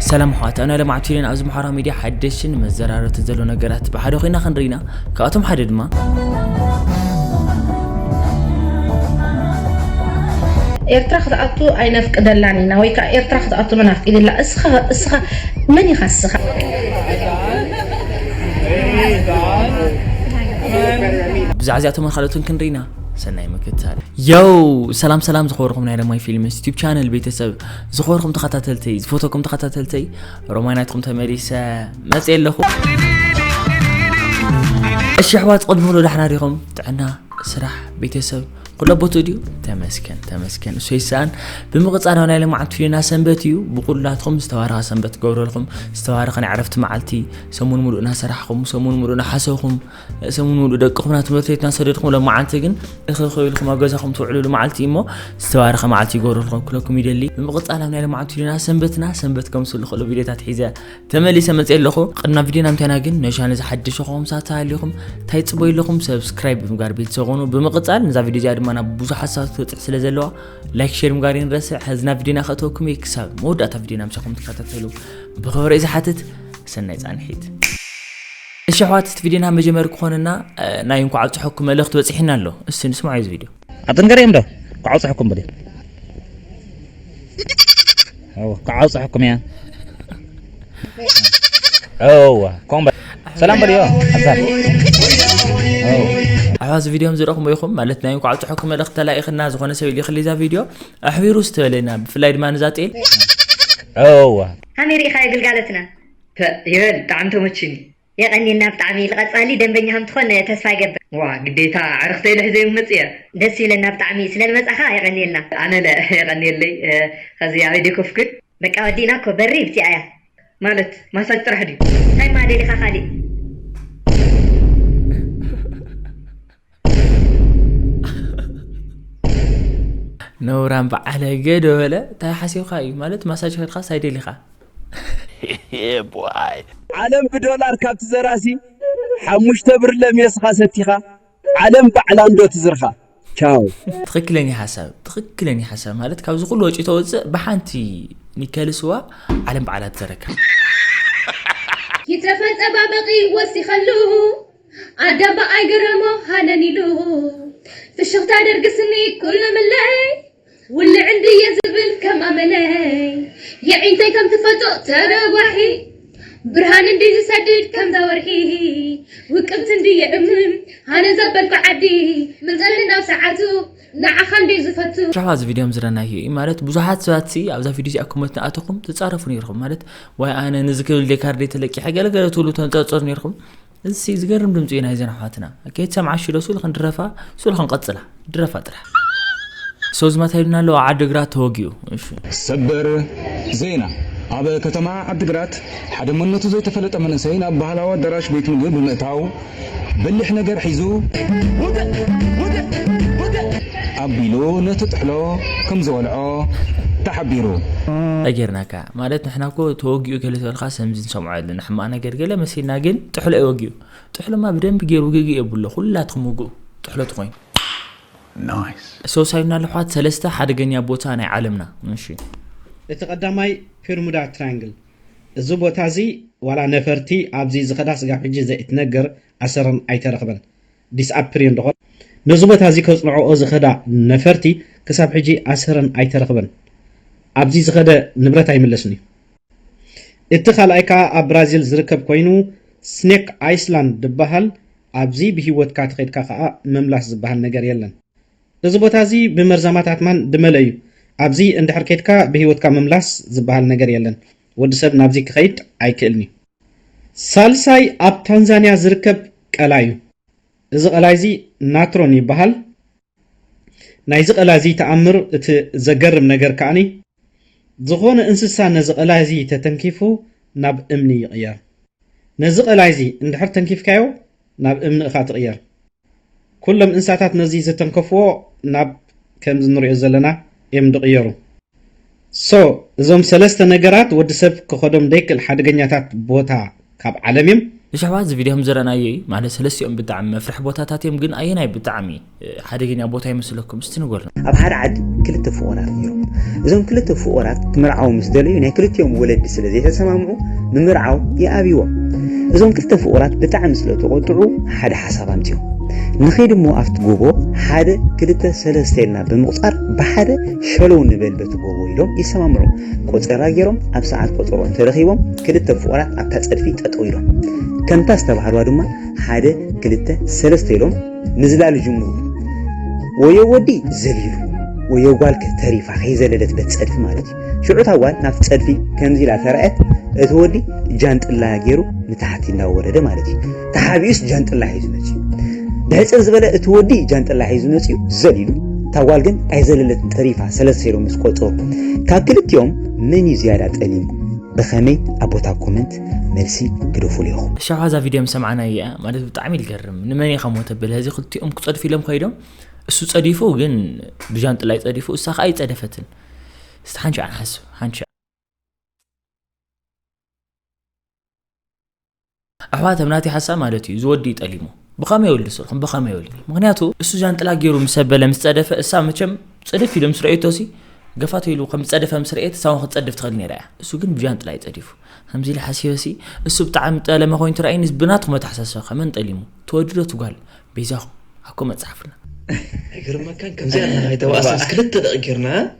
ሰላም ኣሕዋት ኣብና ለማዕ ቲቪን ኣብዚ ምሓራ ሚድያ ሓደሽን መዘራረብቲ ዘሎ ነገራት ብሓደ ኮይና ክንርኢና ካብኣቶም ሓደ ድማ ኤርትራ ክትኣቱ ኣይነፍቅደላን ኢና ወይ ከዓ ኤርትራ ክትኣቱ መን ኣፍቂድላ እስኻ እስኻ መን ኢኻ እስኻ ብዛዕ እዚኣቶምን ካልኦትን ክንርኢና ሰናይ ምክታል የው ሰላም ሰላም ዝኸበርኩም ናይ ለማይ ፊልምስ ዩቲብ ቻነል ቤተሰብ ዝኸበርኩም ተኸታተልተይ ዝፈተኩም ተኸታተልተይ ሮማናትኩም ተመሊሰ መፅ ኣለኹ እሺ ኣሕዋት ቕድሚ ክሎ ዳሕና ዲኹም ጥዕና ስራሕ ቤተሰብ ኩሎ ቦትኡ ድዩ ተመስገን ተመስገን እሱ ይሰኣን ብምቕጻል ናይ ለማዓልቲ ፍዩና ሰንበት እዩ ብቑላትኩም ዝተባረኸ ሰንበት ትገብረልኩም ዝተባረኸ ናይ ዕረፍቲ መዓልቲ ሰሙን ሙሉእ እናሰራሕኹም ሰሙን ሙሉእ እናሓሰኹም ሰሙን ሙሉእ ደቅኹም ናብ ትምህርቲ ቤት እናሰደድኩም ለመዓልቲ ግን እኸ ኮይልኩም ኣብ ገዛኹም ትውዕልሉ መዓልቲ እሞ ዝተባረኸ መዓልቲ ይገብረልኩም ክለኩም ይደሊ ብምቕጻል ኣብ ናይ ለማዓልቲ ፍዩና ሰንበትና ሰንበት ከምስሉ ክእሉ ቪድዮታት ሒዘ ተመሊሰ መጽየ ኣለኹ ቅድና ቪድዮ ናምታይና ግን ነሻ ነዚ ሓድሽ ዝኾም ሳት ተሃሊኹም እንታይ ጽበዩ ኣለኹም ሰብስክራይብ ብምጋር ቤተሰብ ኾኑ ብምቕጻል ነዛ ቪድዮ እዚኣ ድማ ናብ ብዙሓት ሳት ትበጽሕ ስለ ዘለዋ ላይክ ሼር ምጋር ይንረስዕ ሕዝና ቪድዮና ከእተወኩም እየ ክሳብ መወዳእታ ቪድዮ ናምሳኹም ትከታተሉ ብኽብሪ እዩ ዝሓትት ሰናይ ጻንሒት እሺ ኣሕዋት እቲ ቪድዮና መጀመሪ ክኾነና ናይ እንኳዕ ኣብጽሐኩም መልእኽቲ በጺሒና ኣሎ እስቲ ንስማዕ እዚ ቪድዮ ኣትንገሪኦም ዶ ክዓብጽሑኩም በልዮ ኣወ ክዓብጽሑኩም እያ ኣወ ከምኡ በል ሰላም በልዮ ኣሕዋት እዚ ቪድዮ ዝረኽሙ ኢኹም ማለት ናይ እንኳዕ ኣብፅሐኩም መልእኽቲ ተላኢኽና ዝኾነ ሰብ ይልኽሊ እዛ ቪድዮ ኣሕቢሩ ዝተበለና ብፍላይ ድማ ንዛ ጤል ኣዋ ሃኒ ርኢኻዮ ግልጋለትና ይበል ብጣዕሚ ተመችኒ የቀንየልና ብጣዕሚ ልቀጻሊ ደንበኛ ከም ትኮን ተስፋ ይገብር። ዋእ ግዴታ ኣዕርክተይ ልሕዘዮም ክመጽእ እየ። ደስ ይብለና ብጣዕሚ ስለ ልመጻካ የቀንየልና። ኣነለ የቀንየለይ ኸዚ ኣበይ ደይ ኮፍኩ። በቃ ወዲእና እኮ በሪ ብቲኣ እያ። ማለት ማሳጅ ጥራሕ ድዩ። ታይ እማ ደሊካ ካሊእ። ነውራም በዓለገ ዶ በለ እንታይ ሓሲብካ እዩ ማለት ማሳጅ ከድካ ሳይ ደሊካ ዓለም ብዶላር ካብ ትዘራሲ ሓሙሽተ ብርለ ሜስኻ ሰቲኻ ዓለም ባዕላ እንዶ ትዝርኻ ቻው ትክክለኛ ሓሳብ ትክክለኛ ሓሳብ ማለት ካብዚ ኩሉ ወጪ ተወፅእ ብሓንቲ ኒከል ስዋ ዓለም በዓላ ትዘረካ ይተፈል ጸባበቂ ወሲኸሉ ኣደ ብኣይ ግረሞ ሃነን ኢሉ ፍሽኽታ ደርግስኒ ኩሉ ምለይ ውልዕ እንድየ ዝብል ከም ኣመለይ የዒንተይ ከም ትፈልጦ ተረጓሒ ብርሃን እንዲ ዝሰድድ ከምዛ ወርሒ ውቅብቲ እንድየ እምም ሃነን ዘበልኩ ዓዲ ምንፀሊ ናብ ሰዓቱ ንዓኻ እንድዩ ዝፈቱ። ብዙሕ ኣብዚ ቪድዮ ዝረናዮ እዩ ማለት ብዙሓት ሰባት ሲ ኣብዛ ቪድዮ እዚኣ ኮመንት ናኣተኹም ትጻረፉ ነይርኹም ማለት ዋይ ኣነ ነዚ ክብል ደ ካርደይ ተለቂሐ ገለገለ ትብሉ ተንጸርጸሩ ነይርኹም እዚ ሲ ዝገርም ድምጺ እዩ ናይዘን ኣሕዋትና ከይትሰምዓ ሽዶ ሱል ክንድረፋ ሱል ክንቀጽላ ድረፋ ጥራሕ ሶዝማት ሃይሉና ኣለዋ ዓድግራት ተወጊኡ እሺ ሰበር ዜና ኣብ ከተማ ዓድግራት ሓደ መንነቱ ዘይተፈለጠ መንእሰይ ናብ ባህላዊ ኣዳራሽ ቤት ምግቢ ብምእታው በሊሕ ነገር ሒዙ ውግእ! ውግእ! ውግእ! ኣቢሉ ነቲ ጥሕሎ ከም ዝወልዖ ተሓቢሩ። ታይ ገይርናካ ማለት ንሕና እኮ ተወጊኡ ገለ ዝበልካ ሰምዚ ንሰምዖ ኣለና ሕማቅ ነገር ገለ መሲልና ግን ጥሕሎ እዩ ወጊኡ ጥሕሎማ ብደንቢ ገይሩ ውግግእ የብሎ ኩላትኩም ውግኡ ጥሕሎ ትኮይኑ Nice። ሰውሳዩና ልሕዋት ሰለስተ ሓደገኛ ቦታ ናይ ዓለምና እሺ። እቲ ቀዳማይ ፔርሙዳ ትራያንግል እዚ ቦታ እዚ ዋላ ነፈርቲ ኣብዚ ዝኸዳ ስጋብ ሕጂ ዘይእትነግር ኣሰረን ኣይተረኽበን ዲስኣፕር እየን ዶኾን? ነዚ ቦታ እዚ ከጽንዕኦ ዝኸዳ ነፈርቲ ክሳብ ሕጂ ኣሰረን ኣይተረኽበን ኣብዚ ዝኸደ ንብረት ኣይምለስን እዩ። እቲ ካልኣይ ከኣ ኣብ ብራዚል ዝርከብ ኮይኑ ስኔክ ኣይስላንድ ድበሃል ኣብዚ ብሂወትካ ተኸድካ ከኣ ምምላስ ዝበሃል ነገር የለን እዚ ቦታ እዚ ብመርዛማት ኣትማን ድመለ እዩ ኣብዚ እንድሕር ከድካ ብህይወትካ ምምላስ ዝባሃል ነገር የለን ወዲ ሰብ ናብዚ ክከይድ ኣይክእልን እዩ። ሳልሳይ ኣብ ታንዛንያ ዝርከብ ቀላይ እዩ እዚ ቀላይ እዚ ናትሮን ይባሃል ናይዚ ቀላይ እዚ ተኣምር እቲ ዘገርም ነገር ከኣ ዝኾነ እንስሳ ነዚ ቀላይ'ዚ ተተንኪፉ ናብ እምኒ ይቕየር። ነዚ ቀላይ'ዚ እንድሕር ተንኪፍካዮ ናብ እምኒ እኻ ትቕየር። ኩሎም እንስሳታት ነዚ ዝተንከፍዎ ናብ ከምዚ ንሪኦ ዘለና እዮም ድቕየሩ። So እዞም ሰለስተ ነገራት ወዲ ሰብ ክኸዶም ደይክእል ሓደገኛታት ቦታ ካብ ዓለም እዮም። እሺ ኣሕዋት እዚ ቪድዮ ከምዝረኣናዮ እዩ ማለት ሰለስቲኦም ብጣዕሚ መፍርሒ ቦታታት እዮም ግን ኣየናይ ብጣዕሚ ሓደገኛ ቦታ ይመስለኩም እስቲ ንገሩና። ኣብ ሓደ ዓዲ ክልተ ፍቑራት ነይሮም። እዞም ክልተ ፍቑራት ክምርዓዉ ምስ ደለዩ ናይ ክልቲኦም ወለዲ ስለ ዘይተሰማምዑ ንምርዓው ይኣብይዎም። እዞም ክልተ ፍቑራት ብጣዕሚ ስለ ተቖጥዑ ሓደ ሓሳብ ኣምጺኦም። ንኺድ እሞ ኣብቲ ጎቦ ሓደ ክልተ ሰለስተ ኢልና ብምቑጻር ብሓደ ሸለው ንበል በቲ ጎቦ ኢሎም ይሰማምዑ። ቆጸራ ገይሮም ኣብ ሰዓት ቆጸሮ እንተረኺቦም ክልተ ፍቑራት ኣብታ ጸድፊ ጠጠው ኢሎም ከምታ ዝተባህልዋ ድማ ሓደ ክልተ ሰለስተ ኢሎም ምዝላል ይጅምሩ። ወዮ ወዲ ዘሊሉ ወዮ ጓልከ ተሪፋ ከይዘለለት በት ጸድፊ ማለት እዩ። ሽዑ እታ ጓል ናብቲ ጸድፊ ከምዚ ኢላ ተራእየት እቲ ወዲ ጃንጥላ ገይሩ ንታሕቲ እናወረደ ማለት እዩ። ተሓቢኡስ ጃንጥላ ሒዙ መፅዩ ብሕፅር ዝበለ እቲ ወዲ ጃንጥላ ሒዙ መፅዩ ዘሊሉ እታ ጓል ግን ኣይዘለለትን ጠሪፋ ሰለስተ ሴሮ ምስ ቆፀሩ ካብ ክልቲኦም መን እዩ ዝያዳ ጠሊሙ ብኸመይ ኣብ ቦታ ኮመንት መልሲ ግደፉሉ ኢኹም ሻዋ እዛ ቪድዮ ምስ ሰማዕናያ እያ ማለት ብጣዕሚ ይገርም ንመን ኢኻ ሞ ተብል ህዚ ክልቲኦም ክፀድፉ ኢሎም ከይዶም እሱ ፀዲፉ ግን ብጃንጥላ ይፀዲፉ እሳ ከዓ ይፀደፈትን እስቲ ሓንሻዕ ንሓስብ ሓንሻዕ ኣሕዋት ኣብ ናተይ ሓሳብ ማለት እዩ እዚ ወዲ እዩ ጠሊሙ ብኸመይ ይወልድ ስልኩም ብኸመይ ይወልድ ምክንያቱ እሱ ጃንጥላ ገይሩ ምስ ኣበለ ምስ ፀደፈ እሳ መቸም ፅድፍ ኢሉ ምስ ረእየቶ ሲ ገፋቶ ኢሉ ከም ዝፀደፈ ምስ ረእየት እሳውን ክትፀድፍ ትኽእል ነይራ እያ እሱ ግን ብጃንጥላ እዩ ፀዲፉ ከምዚ ኢለ ሓሲበ ሲ እሱ ብጣዕሚ ጠለመ ኮይኑ ትረኣይኒ ብናትኩም ኣተሓሳስባ ከመን ጠሊሙ ትወድዶ ትጓል በይዛኹም ኣኮ መፅሓፍና ኣይገርመካን ከምዚኣ ናኸይተባእሰስ ክልተ ደቂ ጌርና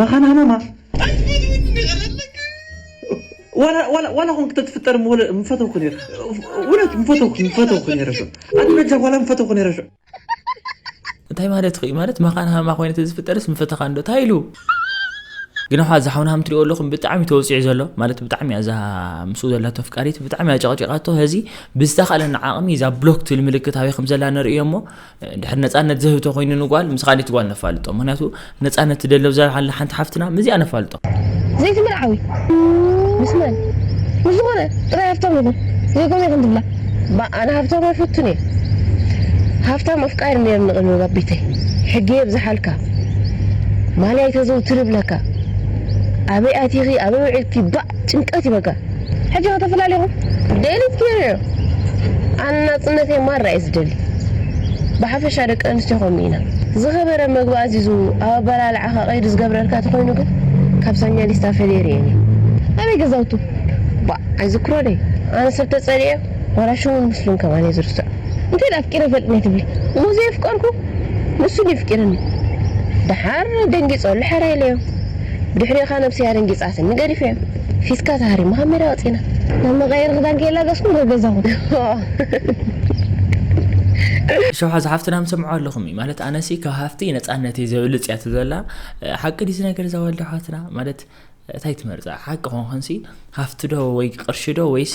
መኻና ማማ ዋላ ኮን ክትትፍጠር ምፈተውኩ ነይረ እውነት ምፈተውኩ ምፈተውኩ ነይረ ሾ ኣነ በጃ ዋላ ምፈተውኩ ነይረ ሾ እንታይ ማለት እዩ ማለት መኻን ሃማ ኮይነ ተዝፍጠርስ ምፈተኻ እንዶ እንታይ ኢሉ ግን ዋ እዚ ሓውና ሃም ትሪኦ ኣለኹም ብጣዕሚ ተወፂዑ ዘሎ ማለት ብጣዕሚ እዛ ምስኡ ዘላ ተፍቃሪት ብጣዕሚ ኣጨቕጨቃቶ ህዚ ብዝተኻእለና ዓቕሚ እዛ ብሎክ ትብል ምልክት ኣበይ ከም ዘላ ንርእዮ እሞ ድሕር ነፃነት ዘህብቶ ኮይኑ ንጓል ምስ ኻሊት ጓል ነፋልጦ ምክንያቱ ነፃነት ትደሊ ኣብዛ ሓላ ሓንቲ ሓፍትና ምዚኣ ነፋልጦ ዘይቲ ምርዓዊ ምስ መን ምስ ዝኾነ ጥራይ ሃብታም ይኹን ዘይኮነ ይኹን ትብላ ባእ ኣነ ሃብታም ኣይፈቱን እየ ሃፍታም ኣፍቃሪ ነይርኒ ቅድሚ ኣብ ቤተይ ሕጊ የብዝሓልካ ማልያ ኣይተዘውትሪ ይብለካ ኣበይ ኣቲኺ ኣበይ ውዒልኪ ባእ ጭንቀት እዩ በቃ ሕጂ ከተፈላሊኹም ደሊት ጌረ እየ ኣነ ናጽነተይ ማራ እየ ዝደሊ ብሓፈሻ ደቂ ኣንስትዮ ከምኡ ኢና ዝኸበረ መግቢ ኣዚዙ ኣብ ኣበላልዓኻ ቀይዲ ዝገብረልካ ተኾይኑ ግን ካብ ሳኛ ሊስታ ፈልየ ሪኤን እየ ኣበይ ገዛውቱ ባእ ኣይዝክሮ ደይ ኣነ ሰብ ተጸሊኤ ዋላ ሽሙን ምስሉን ከማን እየ ዝርስዖ እንተድኣ ኣፍቂረ ይፈልጥ ነይ ትብሊ እሞ ዘየፍቀርኩ ንሱ ድዩ ኣፍቂርኒ ደሓር ደንጊጾ ልሐር ኢለዮ። ብድሕሬኻ ነብሰያ ደንጊጻትኒ ገዲፈዮ ፊስካ ተሃሪሙ ካብ ሜዳ ወጺና። ናብ መቀየሪ ክዳን ከይላገጽኩም ናብ ገዛ ኩኑ። ሸው ሓዛ ሓፍትና ምሰምዖ ኣለኹም እዩ ማለት ኣነሲ ካብ ሃፍቲ ነጻነተይ ዘብልጽ እያ ትዘላ ሓቂ ድዩ እዚ ነገር እዛ ዋልዳ ሓትና ማለት ታይ ትመርጻ ሓቂ ኮንኮንሲ ሃፍቲ ዶ ወይ ቅርሺ ዶ ወይስ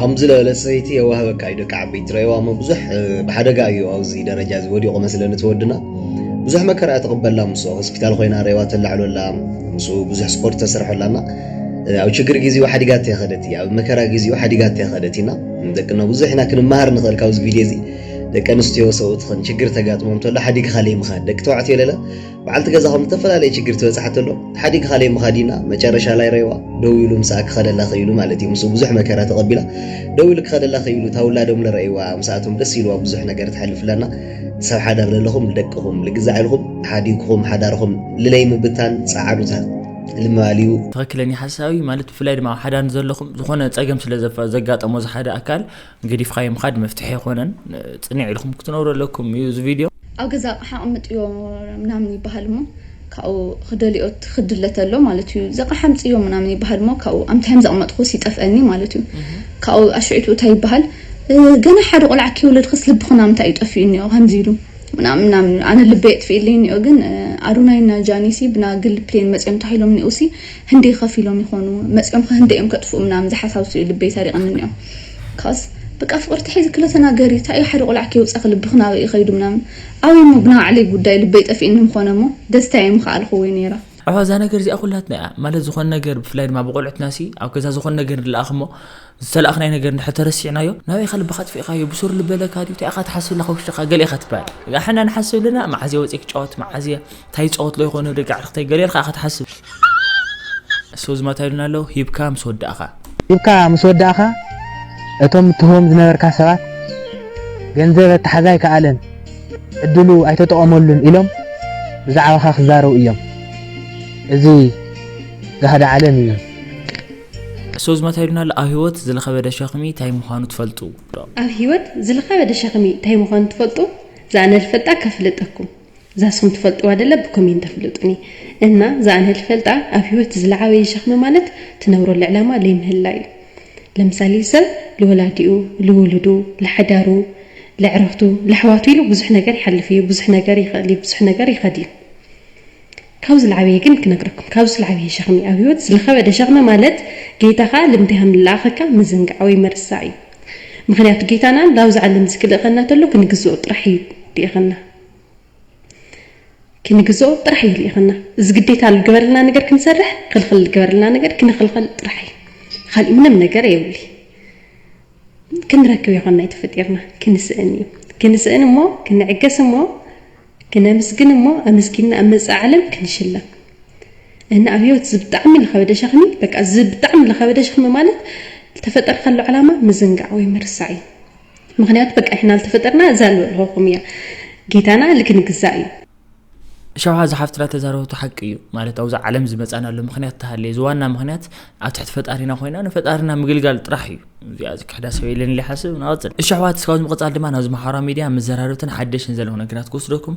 ሃምዚ ለበለ ሰይቲ የዋህበካ እዩ ደቂ ዓበይቲ ትረይዋ እሞ ብዙሕ ብሓደጋ እዩ ኣብዚ ደረጃ እዚ ወዲቑ መስለኒ እቲ ወድና ብዙሕ መከራ እያ ተቕበላ ምስ ሆስፒታል ኮይና ረይዋ ተላዕሎላ ምስ ብዙሕ ስፖርት ተሰርሐላና ኣብ ችግር ጊዜኡ ሓዲጋት የኸደት እያ ኣብ መከራ ጊዜኡ ሓዲጋት የኸደት ኢና ደቅና ብዙሕ ኢና ክንመሃር ንኽእል ካብዚ ቪድዮ እዚ ደቂ ኣንስትዮ ሰብኡትኽን ችግር ተጋጥሞም ተሎ ሓዲግ ኻለይ ምኻድ፣ ደቂ ተባዕትዮ ለለ በዓልቲ ገዛኹም ዝተፈላለየ ችግር ትበፅሓ ተሎ ሓዲግ ኻለይ ምኻድ ኢና መጨረሻ ላይ ረይዋ ደው ኢሉ ምሳኣ ክኸደላ ኽኢሉ ማለት እዩ። ምስኡ ብዙሕ መከራ ተቐቢላ ደው ኢሉ ክኸደላ ኽኢሉ እታ ውላዶም ለረይዋ ምስኣቶም ደስ ኢልዋ ብዙሕ ነገር ትሓልፍ ለና ሰብ ሓዳር ለለኹም ልደቅኹም ልግዛዕ ኢልኹም ሓዲግኹም ሓዳርኹም ልለይ ምብታን ፀዓዱታ ልምባል እዩ። ትኽክለኛ ሓሳብ እዩ ማለት ብፍላይ ድማ ኣብ ሓዳር ዘለኹም ዝኾነ ፀገም ስለ ዘጋጠሞ እዚ ሓደ ኣካል ገዲፍኻዮ ምኻድ መፍትሒ ኣይኮነን ፅንዕ ኢልኩም ክትነብሩ ኣለኩም እዩ እዚ ቪድዮ ኣብ ገዛ ኣቕሓ ኣቕምጥዮ ምናምን ይበሃል እሞ ካብኡ ክደልኦ ክድለ ተሎ ማለት እዩ ዘቕሓ ኣምፅዮ ምናምን ይበሃል እሞ ካብኡ ኣምታዮም ዘቕመጥኩስ ይጠፍአኒ ማለት እዩ ካብኡ ኣሽዒቱ እንታይ ይበሃል ገና ሓደ ቆልዓ ክይውለድ ክስ ልብኹ ናምንታይ እዩ ጠፊኡ እኒኦ ከምዚ ኢሉ ምናምን ምናምን ኣነ ልበይ የጥፍኢለይ እኒኦ ግን ኣዶናይና ጃኒሲ ብና ግል ፕሌን መፅኦም ተባሂሎም እኒኦሲ ህንደይ ከፊሎም ይኾኑ መፅኦም ህንደይ እዮም ከጥፍኡ ምናምን ዝሓሳብሱ እዩ ልበይ ሰሪቐኒ እኒኦ Cause በቃ ፍቅሪ ተሒዙ ክለ ተናገሪ ታይ እዩ ሓደ ቆልዓ ከይውፃኪ ልብኪ ናበይ እዩ ከይዱ ምናምን ኣበይ እሞ ብናባዕለይ ጉዳይ ልበይ ጠፊእኒ ምኮነ እሞ ደስታይ ምከኣልኩዎይ ነይረ። ኣሕ እዛ ነገር እዚኣ ኩላትና እያ ማለት ዝኮነ ነገር ብፍላይ ድማ ብቆልዑትና ሲ ኣብ ገዛ ዝኮነ ነገር ንልኣክ እሞ ዝተላኣክናዮ ነገር እንድሕር ተረሲዕናዮ ናበይ ኢካ ልብካ ኣጥፊእካዮ ብሱሩ ልበለካ ድዩ ታይ ኢካ ትሓስብ ዘለካ ውሽጥካ ገለ ኢካ ትባሃል እሕና ንሓስብ ኣለና ማዓዝ እየ ወፅየ ክጫወት ማዓዝ እየ ታይ ይፃወት ሎ ይኮን ደቂ ኣዕርክተይ ገለ ኢልካ ኢካ ትሓስብ so ዝማታ ኢሉና ኣሎ ሂብካ ምስ ወዳእካ ሂብካ ምስ ወዳእካ እቶም እትህቦም ዝነበርካ ሰባት ገንዘብ ኣተሓዛ ኣይከኣለን ዕድሉ ኣይተጠቐመሉን ኢሎም ብዛዕባኻ ክዛረቡ እዮም እዚ ጋህዲ ዓለም እዩ so ዝማታ ኢሉና ኣሎ ኣብ ህይወት ዝለኸበደ ሸኽሚ ታይ ምዃኑ ትፈልጡ ዶ ኣብ ህይወት ዝለኸበደ ሸኽሚ ታይ ምዃኑ ትፈልጡ ዝኣነ ልፈልጣ ከፍልጠኩም እዛ ንስኹም ትፈልጥዋ ደለ ብኮሜንት ኣፍልጡኒ እና እዛ ኣነ ልፈልጣ ኣብ ህይወት ዝለዓበየ ሸኽሚ ማለት ትነብረሉ ዕላማ ለይምህላ እዩ ለምሳሌ ሰብ ልወላዲኡ ልውሉዱ ልሓዳሩ ለዕርኽቱ ለሕዋቱ ኢሉ ብዙሕ ነገር ይሓልፍ እዩ ብዙሕ ነገር ይኽእል እዩ ብዙሕ ነገር ይኸድ እዩ ካብ ዝለዓበየ ግን ክነግረኩም ካብ ዝለዓበየ ሸኽሚ ኣብ ህይወት ዝለኸበደ ሸኽሚ ማለት ጌታኻ ልምንታይ ከም ልለኣኸካ ምዝንጋዕ ወይ ምርሳዕ እዩ ምኽንያቱ ጌታና ናብዚ ዓለም እዚ ክልእኸና ተሎ ክንግዝኦ ጥራሕ እዩ ልኢኸና ክንግዝኦ ጥራሕ እዩ ልኢኸና። እዚ ግዴታ ልገበረልና ነገር ክንሰርሕ፣ ኽልኽል ልገበረልና ነገር ክንኽልኸል ጥራሕ እዩ። ኻሊእ ምንም ነገር የብሊ። ክንረክብ ይኾና ተፈጢርና፣ ክንስእን እዩ። ክንስእን እሞ ክንዕገስ እሞ ክነምስግን እሞ ኣመስጊንና ኣብ መጻኢ ዓለም ክንሽለም እና ኣብ ህይወት ዝብጣዕሚ ልኸበደ ሸኽሚ በቃ ዝብጣዕሚ ልኸበደ ሸኽሚ ማለት ተፈጠርካሉ ዓላማ ምዝንጋዕ ወይ ምርሳዕ እዩ። ምክንያቱ በቃ ሕና ዝተፈጠርና እዛ ንበልኸኹም እያ ጌታና ልክንግዛእ እዩ ሸውሃ እዚ ሓፍትና ተዛረበቱ ሓቂ እዩ ማለት ኣብዚ ዓለም ዝመፃናሉ ምክንያት ተሃለ እዚ ዋና ምክንያት ኣብ ትሕቲ ፈጣሪና ኮይና ንፈጣሪና ምግልጋል ጥራሕ እዩ እዚኣ ዝክሕዳ ሰብ የለን ኢለ ሓስብ ናወፅን እሺ ኣሕዋት እስካብ ምቕፃል ድማ ናብዚ መሓራ ሚድያ መዘራርብትን ሓደሽን ዘለኹ ነገራት ክወስደኩም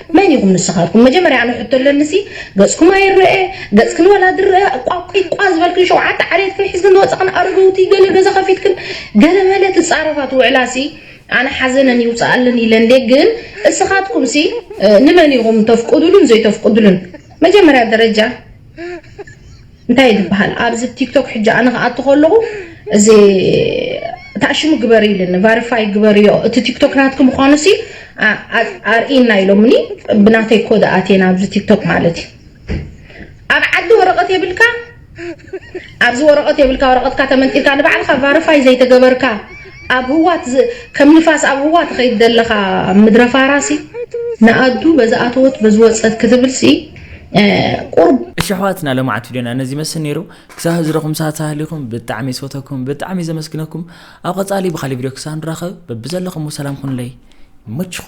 መን ኢኹም ንስኻትኩም መጀመርያ ኣነ ሕቶ ኣለኒ ሲ ገጽኩም ኣይረኤ ገጽክን ወላ ዝረኣ ቋቂቋ ዝበልክን ሸውዓተ ዓሌትክን ሒዝክን ዝወጻኽን ኣረገውቲ ገለ ገዛ ከፊትክን ገለ መለ ትጻረፋ ትውዕላ ሲ ኣነ ሓዘነን ይውጻኣለን ኢለ እንዴ ግን እስኻትኩም ሲ ንመን ኢኹም ተፍቅዱሉን ዘይተፍቅዱሉን መጀመርያ ደረጃ እንታይ ድበሃል ኣብዚ ቲክቶክ ሕጂ ኣነ ክኣቱ ከለኹ እዚ ታሽሙ ግበሪ ኢልኒ ቫሪፋይ ግበርዮ እቲ ቲክቶክ ናትኪ ምዃኑ ሲ ኣርእና ኢሎምኒ ብናተይ ኮድ ኣትየ ናብዚ ቲክቶክ ማለት እዩ ኣብ ዓዲ ወረቐት የብልካ ኣብዚ ወረቐት የብልካ ወረቐትካ ተመንጢልካ ንባዕልካ ቫሪፋይ ዘይተገበርካ ኣብ ህዋት ከም ንፋስ ኣብ ህዋ ትኸይድ ዘለኻ ምድረ ፋራሲ ንኣዱ በዚ ኣተወት በዚ ወፀት ክትብልሲ ቁርብ እሺ ኣሕዋትና ለማዓት ቪድዮና ነዚ ይመስል ነይሩ ክሳብ ህዚ ረኹም ሰዓት ሳህሊኹም ብጣዕሚ ዝፈተኩም ብጣዕሚ ዘመስግነኩም ኣብ ቀፃሊ ብካሊ ቪድዮ ክሳብ ንራኸብ በብዘለኹም ሰላም ኩኑለይ ይመችኹም